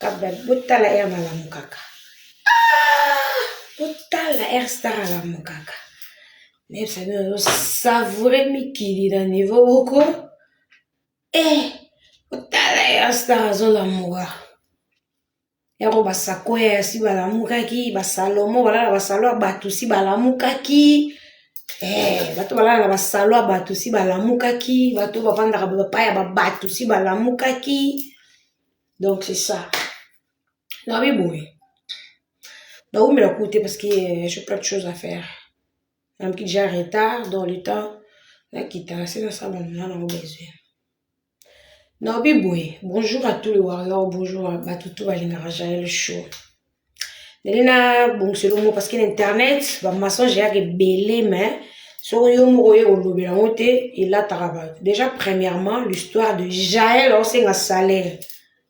Kabla botala heure nalamukaka. Ah! Botala heure star alamukaka. Nayebisa bino nazo savourer mikili na niveau moko. Eh! Botala heure star azolamuka. Yango basakoya si balamukaki, basalomo balala basalo ya bato si balamukaki. Eh, bato balala na basalo ya bato si balamukaki bato bafandaka bapai ya babato si balamukaki donc c'est ça nabi boye naumela ku te parce que euh, j'ai plein de choses à faire namoki déjà retard dans le temps nakita na se nasala na nango besoin Nalobi boye, bonjour à tous les warriors, bonjour à bato tout balingaka Jael Show. Ndenge na bongisa elongo parce que na internet ba mensonge eyaka ebele mais soki yo moko oye kolobela yango te elataka bato. Déjà premièrement l'histoire de Jael aosenga salaire.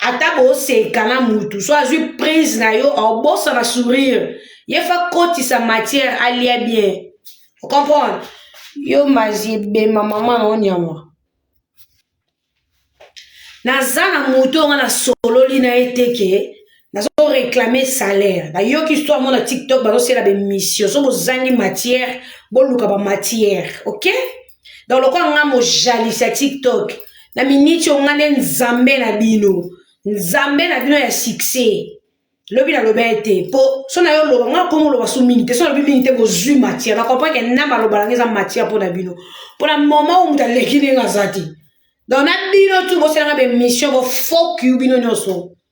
ata boseka na mutu so azwi prise na yo obosana sourire ye fa kotisa matière alia bien ocomprendre yo mazi ebema mama na onyama naza na moto oyo nga nasololi na ye te ke nazoreklame salaire nayoki histoire mona tiktok bazosela bemission so bozangi matière boluka bamatière ok donc lokola nga mojalisi ya tiktok na miniti oyo nga nde nzambe na bino nzambe na bino ya succès lobi naloba ye te mpo so na yo oloba nga komi oloba so mingi te so nalobi mingi te bozwi matière na comprend ke na maloba nanga eza matière mpo na bino mpo na moma oyo moto aleki ndenge aza te donc na bino tu bosalanga baémission bofokiu bino nyonso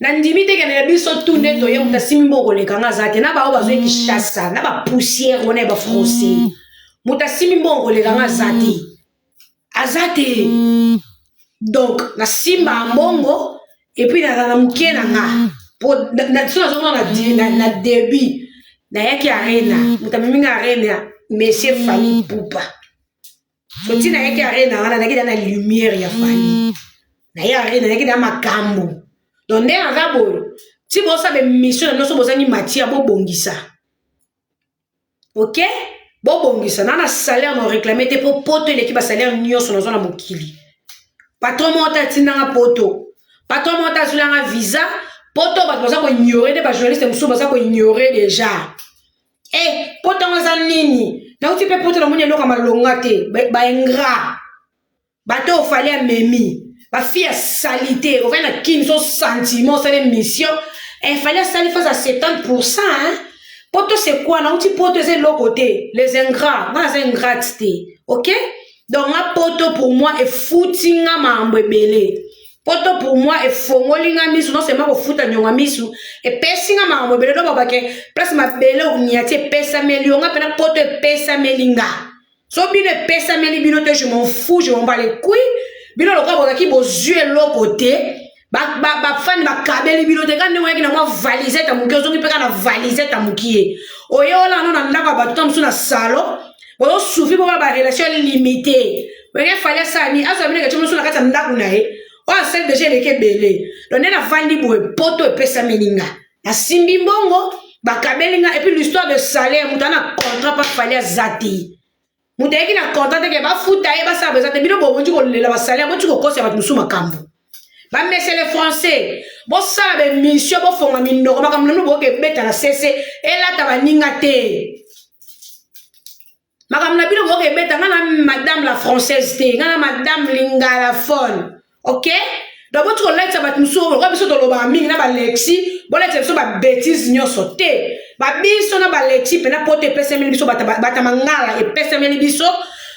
nandimi te kende na biso tu nde toye moto asimbi mbo koleka nga aza te na baoyo bazwi kinshasa na bapoussière wana ya bafrancais mm. moto asimbi mbo koleka nga aza te mm. aza te mm. donc nasimba mbongo epuis naza na moke na nga po so nazomona na début nayaki arena moto amemi nga arena monsieur fali pupa soti nayaki arena wana nayaki da na lumière ya fani naye arena nayaki da makambo donc nde aza boyo ti bosa bemission na bino so bozangi matia bobongisa ok bobongisa na na salaire na réclame te mpo poto eleki basalaire nyonso nazwa na mokili patron moko te atindanga poto patron moko te azwilanga visa poto bato baza koignore nde bajournaliste mosusu baza koignore déjà Eh, poto yango eza nini nauti mpe poto namoni eloko ya malonga te baingra bato oyo fali amemi bafi ya salite ovai na kini so sentiment osala émission efali eh, asali fasi ya 70 pourcent poto se quoi nauti poto eza eloko te les ingrat nga aza ingrate te ok donc nga poto pour moi efuti nga makambo ebele poto pour moi efongoli nga misu non seulement kofuta nyonga misu epesi nga makambo ebele to babake place mabele onyati epesameli yo nga mpena poto epesameli nga so bino epesameli bino te je m'en fou je m'en bas les couilles bino lokola bozalaki bozwi eloko te bafani bakabeli bino te ka ndenge oyaki na mwa valisete ya moke ozongi mpe kaka na valisete ya mokie oye olano na ndako ya bato ta mosusu na salon oyo sufi bo ba relation limitée wenge fali asani azwa bino kati mosusu na kati ya ndako na ye oyo asali deja eleki ebele don nde navandi boye poto epesameli nga nasimbi mbongo bakabeli nga epuis l'histoire de salaire moto ana contrat pa fali aza te moto ayeki na contrat teke bafuta ye basala baza te bino bokoki kolela basalaire boti kokosa bato mosusu makambo bamesele français bosala bemission bofonga minoko makambo nanu boyoka ebeta na sese elata baninga te makambo na bino boyoka ebeta ngai na madame la française te ngai na madame lingalafone ok donc boti kolatisa bato mosusu lokola biso tolobaka mingi na balexi bolatisa biso babetise nyonso te babiso na balexi mpena poto epesemeli biso bata mangala epesemeli biso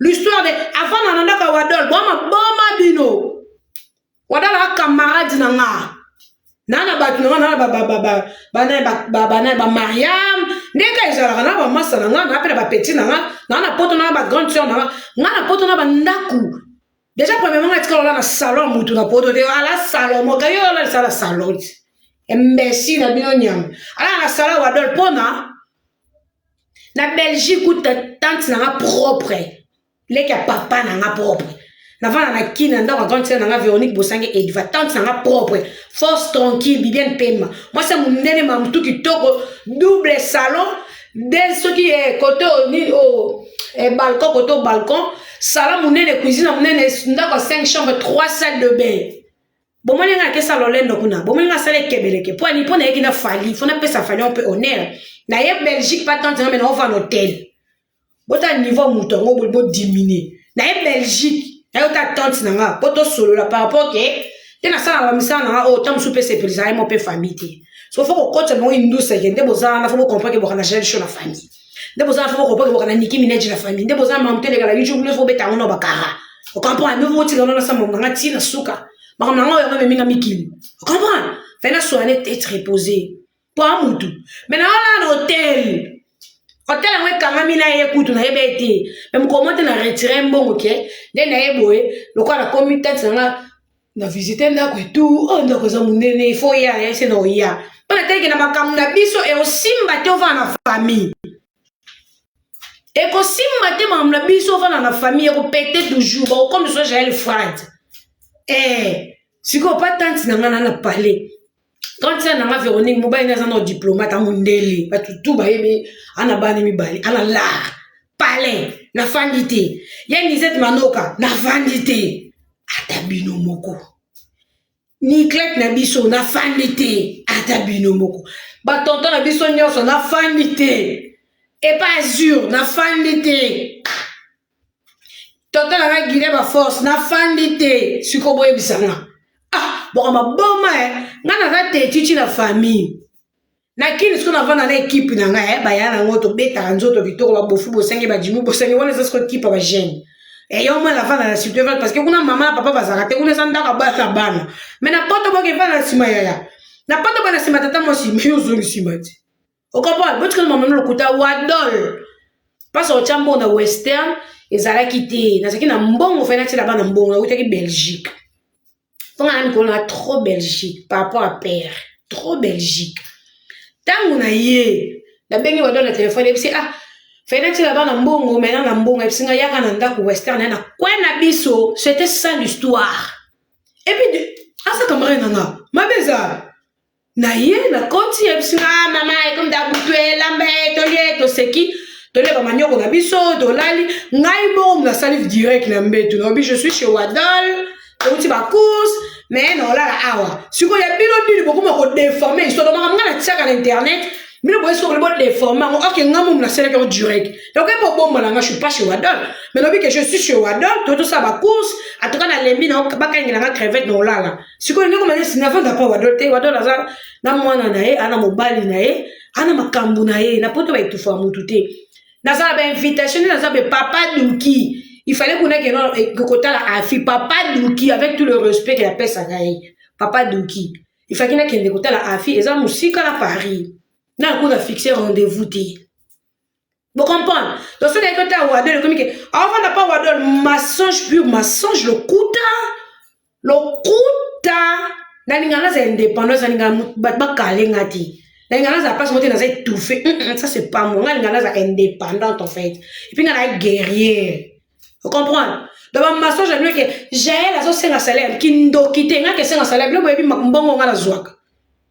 l'histoire de avanda na ndako ya wadol boma boma bino wadol a camarade na nga na na bato na nga na na banaye bamariam ndenge ezalaka na bamasa na nga na mpe na bapeti na nga na na poto na bagrande sœur na nga nga na poto na bandako deja premièrement nga tika olala salon ya mutu na poto te ala salon moka yo olalisa ala salon ti embesi na bino nyama ala na salon wadol mpona na belgique kuta tante na nga propre leki ya papa na nga propre navanda na kin na ndako ya grande sere na nga véronique bosange edva tante na nga propre force tranquille bibiane pema mwasi ya mondele mamutu kitoko double salon nde soki ye eh, kote oyo nini oyo oh, eh, balcon kote oyo balcon sala monene cuisine monene ndako ya 5 chambre 3 salle de bain bomoni ngai akesa lolendo kuna bomoni ngai asala ekebeleke mpo ani mpo nayeki na fali fo napesa fali mpe honneur naye belgique patante ngambe naova na hotel botala niveau ya moto yango bo diminue na ye belgique na ye ota tante na nga po tosolola par rapport ke te nasala bamisala na nga oyo oh, ta mosusu mpe sepelisa ye mo mpe famille te so fo kokotisa bango induseke nde boza wana fo bokompreke bokana gel show na famille nde boza wana fo bokompreke bokana niki mineji na famille nde boza mamu te elekala youtube nde fo bobeta yango na bakara okomprendre nde fo botika wana nasala mamu na nga ti na suka makambo na nga oyo yango ememi nga mikili okomprendre fai nasoane te etre repose toa mutu me naolala na hotel hotel yango ekangami na ye kutu nayeba ye te me mokolo mo te na retire mbongo ke nde na ye boye lokola nakomi tati na nga na visite ndako etu oyo oh, ndako eza monene ifo ya yase na oya mpo nateleke na makambo na biso eosimba te ovana na famille ekosimba te makambo na biso ovana na famille ekopete toujours bakokomisa jael frade ee eh, sikoyo pa tante na ngai na na palais grande sœur nanga Véronique mobali nde aza na diplomate ya mondele bato tu bayebi ana bana mibale ana lar palin nafandi te ye nisete manoka nafandi te ata bino moko niklete na biso nafandi te ata bino moko batonto na biso nyonso nafandi te epa azur nafandi te Tonton na ngai Guinée ba force na fandi te siko boyebisa nga ah boko maboma eh nga naza te chichi na famille na kini siko navanda na ekipe na ngai eh baya na ngo tobetaka nzoto kitoko babofu bosangi bajimu bosangi wana eza siko ekipe ba jeune eh yo mwana navanda na site evale parce que kuna mama na papa bazalaka te kuna eza ndako abana bana mais na poto boke evale na nsima yaya na poto bana nsima tata mwasi mais yo ozongi nsima te okapona botikali mamano lokuta wadol mpasa otya mbongo na western ezalaki te nazalaki na mbongo fai natyela bana mbongo nautaki belgique mpo nga na mikolo na trop belgique par rapport à père trop belgique ntango na ye nabengi wadol na telefone yebisi ah fai natyela bana mbongo maina na mbongo yebisi nga yaka na ndako western ya na kwe na biso c'était ça l'histoire epuis aza camarade na nga mabe eza na ye nakoti yebisi nga ah, mama ekomi da butu elamba ye tolie toseki tolia bamanioko na biso tolali ngai moko moto asali direct na mbetu naobi je suis chez wadol touti bacourse mais naolala awa sikoyo ya bino nini bokoma kodeforme histoire makambo ngai natiaka na internet bino boye soki bokoli bodeforme yango oke ngai momo nasalaki yango direct donc epo obomba na ngai suis pas chez wadol mais naobi ke je suis chez wadol totosala bacourse atoka nalembi na bakangela ngai crevete naolala sikoyo ndeko manesi navanda mpo wado te wado naza na mwana na ye ana mobali na ye ana makambo na ye na poto baetufa ya motu te naza na bainvitation naza be papa duki il fallait kuna keno eh, kotala afi papa duki avec tout le respect ke napesaka ye papa duki il fallait nakende kotala afi eza mosika na paris nakuta fixe rendez-vous te Vous comprenez Donc, ce n'est pas Wadol, comme que, avant n'a pas Wadol, mensonge pur, mensonge, le kouta, le kouta, na lingana za indépendance, na lingana ba ba kale ngati. Na lingana za pas monter na za étouffé. Ça c'est pas moi. Na lingana za indépendante en fait. Et puis na la guerrier. Vous comprenez Donc ba mensonge na que Jaël azo senga salaire, kindoki te nga ke senga salaire, le boyebi mbongo nga na zwaka.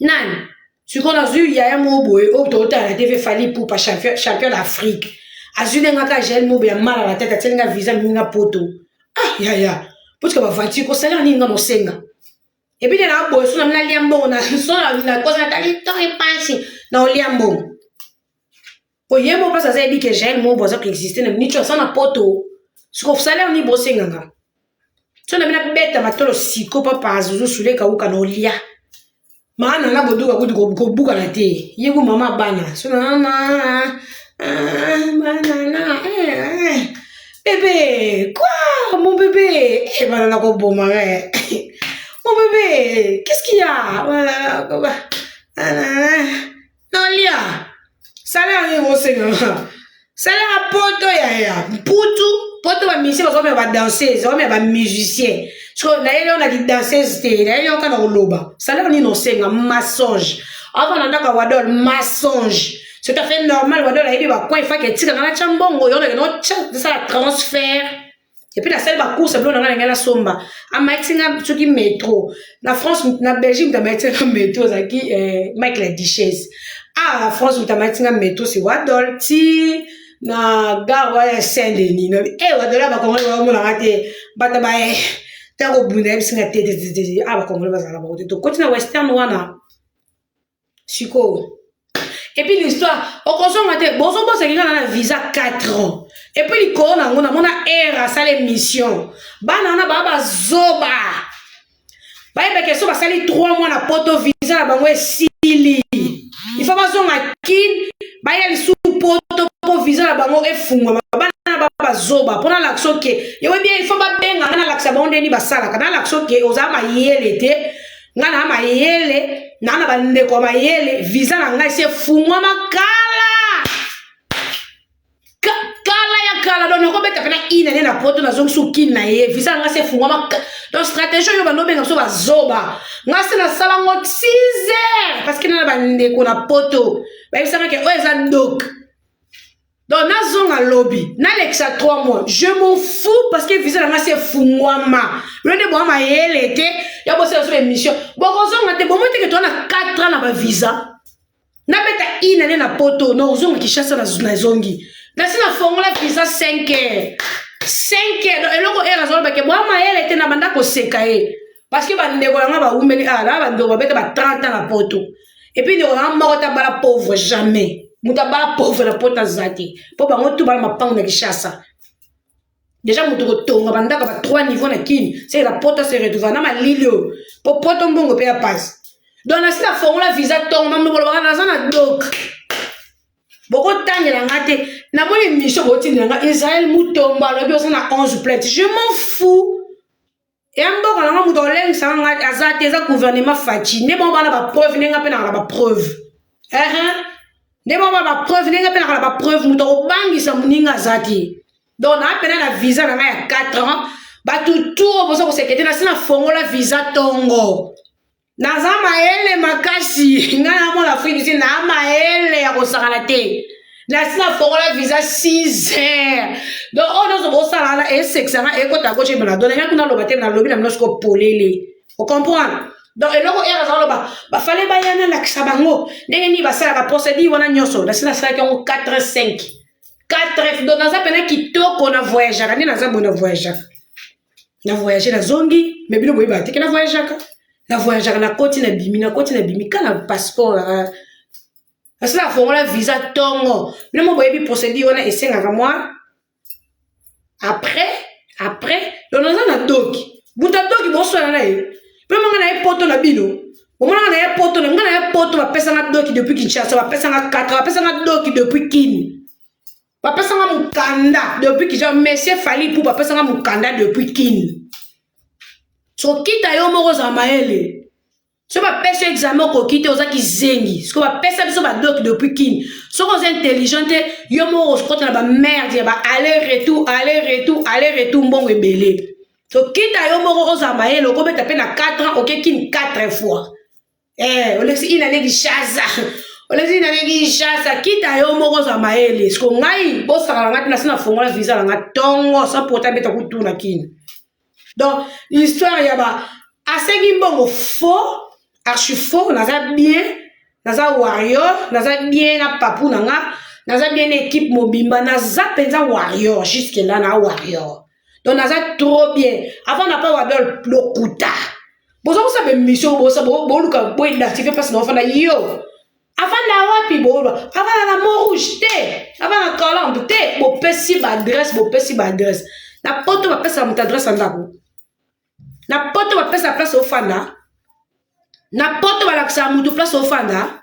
nani sikoyo nazwi yaya moko boye oyo totala na tv fali pupa champion, champion d'afrique azwi nde nga ka gel mobo ya mala na tete atyeli nga visa mimi nga poto ah yaya potika bavanture kosalela nini nga nosenga epuis nde naa boye sona nalia mbongo na sona nakosa natali to epasi na olia mbongo po ye moko mpasi aza yebi ke jael mobo aza koexiste na nico aza na poto siko salaire ni bosenga nga so na bina beta matolo siko papa azuzu sule kauka na olia maana na boduka kutu kobukana te ye ku mama bana so na mama banana bebe kwa mon bebe e bana na koboma eh mon bebe qu'est-ce qu'il y a banana Nalia, sala yango emosenga. Salaka poto yaya, mputu, poto ba musiciens baza komema ba danseuses, bakomema ba musiciens. So nayeli yo na ki danseuse te, nayeli yo kaka koloba. Salaka nini osenga mensonge. Avant na ndaka wadol mensonge. C'est tout à fait normal wadol ayebi ba coin faki etika na cha mbongo, yo na kino cha sala transfert. epuis nasali bacourse bilo na ngai na ngai nasomba amayisi nga soki metro na france na belgique moto amayisi nga metro ezalaki eh, mike la duchesse awa ah, na france moto amayisi nga metro si wadol ti na gare wana ya saint denis nobi e eh, wadol ya bakongoli baomonaka te bato baye eh, ntango obunda yebisi nga te awa bakongoli bazala bango te tokoti na western wana sikoyo epuis l'histoire okozonga te bozobosaki kaka na visa 4 ans epuis likolo na yango namona ere asala émission bana wana baa bazoba bayeba keso basali 3 mois na poto visa na bango esili ifo bazonga kin baya lisusu poto mpo visa na bango efungwama bana bazoba mpo nalakisa oke yewebi ifo babenga nga nalakisa bango ndeni basalaka nalakisa oke ozala mayele te nga na mayele na na bandeko ya mayele visa na ngai se fungwama kala Ka, kala ya kala don nakobeta mpena ine ne na poto nazongisi okini na ye visa na ngai se fungwama don stratégie oyo bando obenga biso bazoba ngai se nasala ngo 6 heures parce que na na bandeko na poto bayebisaka ke oyo eza doke donc nazonga lobi nalekisa 3 mois je m'en fous parce que visa na ngai se fungwama bino nde boa mayele te ya bosala so émission bokozonga te bomoi teke toa na 4 ans na bavisa nabeta une année na poto nakozonga kinshasa nazongi nasi nafongola visa 5 heures 5 heures donc eloko heure azolobake boa mayele te na banda koseka ye parce que bandeko na ngai bawumeli ala ah, bandeko babeta ba 30 ans na poto et puis ndeko nanga moko ta bala pauvre jamais moto abala pauvre na pota aza te mpo bango tu bala mapango na kishasa deja moto kotonga bandako ba trois niveau na kini seke na pota se retrouva na malili oyo mpo poto mbongo mpe ya pasi donc nasi nafongola visa tongo mamlokolobaka naza na dok bokotangela nga te namoni emission bootindela nga israel mutombo alobi oza na 11 plainte je m'en fou ya mboka na nga moto akolengisaka nga aza te eza gouvernement faci nde bango bana bapreuve nde nga mpe naka na bapreuve ehe nde bango bana bapreuve nde nga mpe naka na bapreuve moto akobangisa moninga aza te donc naapena na visa na nga ya 4 ans bato tour boza kosekete na se na fongola visa tongo naza mayele makasi nga na mona afrique ti na mayele ya kosakana te nasi nafongola visa 6 heures donc oyo nyonso bosala na esekisa nga ekota gauche ebana dona nga kuna loba te nalobi na bino siko polele ocomprendre donc eloko ere aza koloba bafale baya nalakisa bango ndenge nini basalaka procédure wana nyonso nasi nasalaki yango 4 heures 5 4 heures donc naza mpena kitoko na voyageaka nde naza boye na voyageaka na voyage na zongi me bino boyebaka teke na voyageaka na voyageaka na koti na bimi na koti na bimi ka na passeport na asala afongola visa tongo bino mo boyebi procédure wana esengaka mwa après après donc naza na doki moto ya doki boswana na ye mpe manga na ye poto na bino omonaka na ye poto na nga na ye poto bapesanga doki depuis kinshasa bapesanga katra bapesanga doki depuis kini bapesanga mokanda depuis kija monsieur fali mpo bapesanga mokanda depuis kini sokita yo moko ozala mayele so bapesi examen okoki te oza kizengi siko bapesa biso badoki depuis kini soki oza intelligent te yo moko okota na bamerde ya ba aller retour aller retour aller retour mbongo ebele sokita yo moko ozala mayele okobeta mpe na 4 ans oke kini 4 fois eh olekisi ina ne kishasa olekisi ina ne kishasa kita yo moko za maele siko ngai bosaka na ngai tina sina fongola visa na ngai tongo sa pota beta kutuna kina donc histoire ya ba asengi mbongo faux archi faux naza bien naza warrior naza bien na papu na nga naza bien na ekipe mobimba naza mpenza warrior jusque la na warrior donc naza trop bien avant na pa wadol lokuta boza kosala bemission bosa boluka boidentifie mpasi na ofanda yo afanda wapi boolwa afanda na mont rouge te afanda na colombe te bopesi baadresse bopesi baadresse na poto bapesaka moto adresse ya ndako na poto bapesaka place ofanda na poto balakisaka moto place ofanda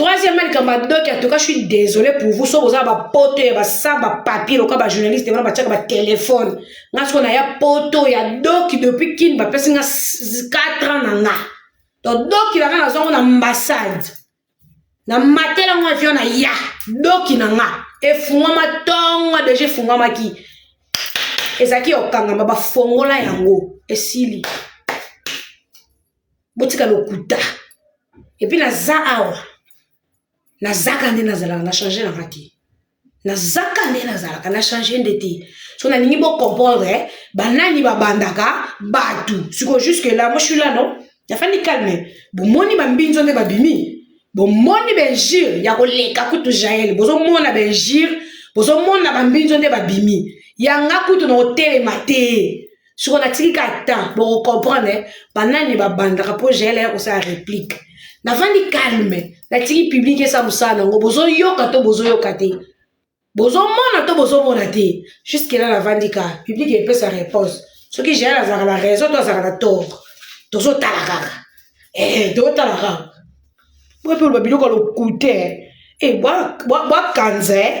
troisièmement likambo ya doki atoka je suis désolé pour vous soki boza bapoto ya basa bapapier lokola bajournaliste wana batiaka batelefone nga soko naya poto ya doki depuis kini bapesi nga 4 ans na nga to doki na nga nazwango na ambassade na matela ngo avion na ya doki na nga efungwama ntongo deja efungwamaki ezalaki okangama bafongola yango esili botika lokuta epuis naza awa nazaka nde nazalaka na change nanga te nazaka nde nazalaka na change nde te so nalingi bocomprendre eh? banani babandaka bato siko jusque la moi suis là non nafandi calme bomoni bambinzo nde babimi bomoni benjure ya koleka kutu jael bozomona benjure bozomona bambinzo nde babimi yanga kutu na kotelema te soko natiki kaka temps bokocomprendre eh, banani babandaka mpo jael aya kosala réplique navandi calme natiki publike esa mosala na yango bozoyoka to bozoyoka te bozomona to bozomona te juske la navandi kaka publike epesa réponse soki jael azalaka na raison to azalaka na tort tozotala kaka eh, tozotala kaka boye mpe oloba biloko ya lokute e eh, bwakanze bwa, bwa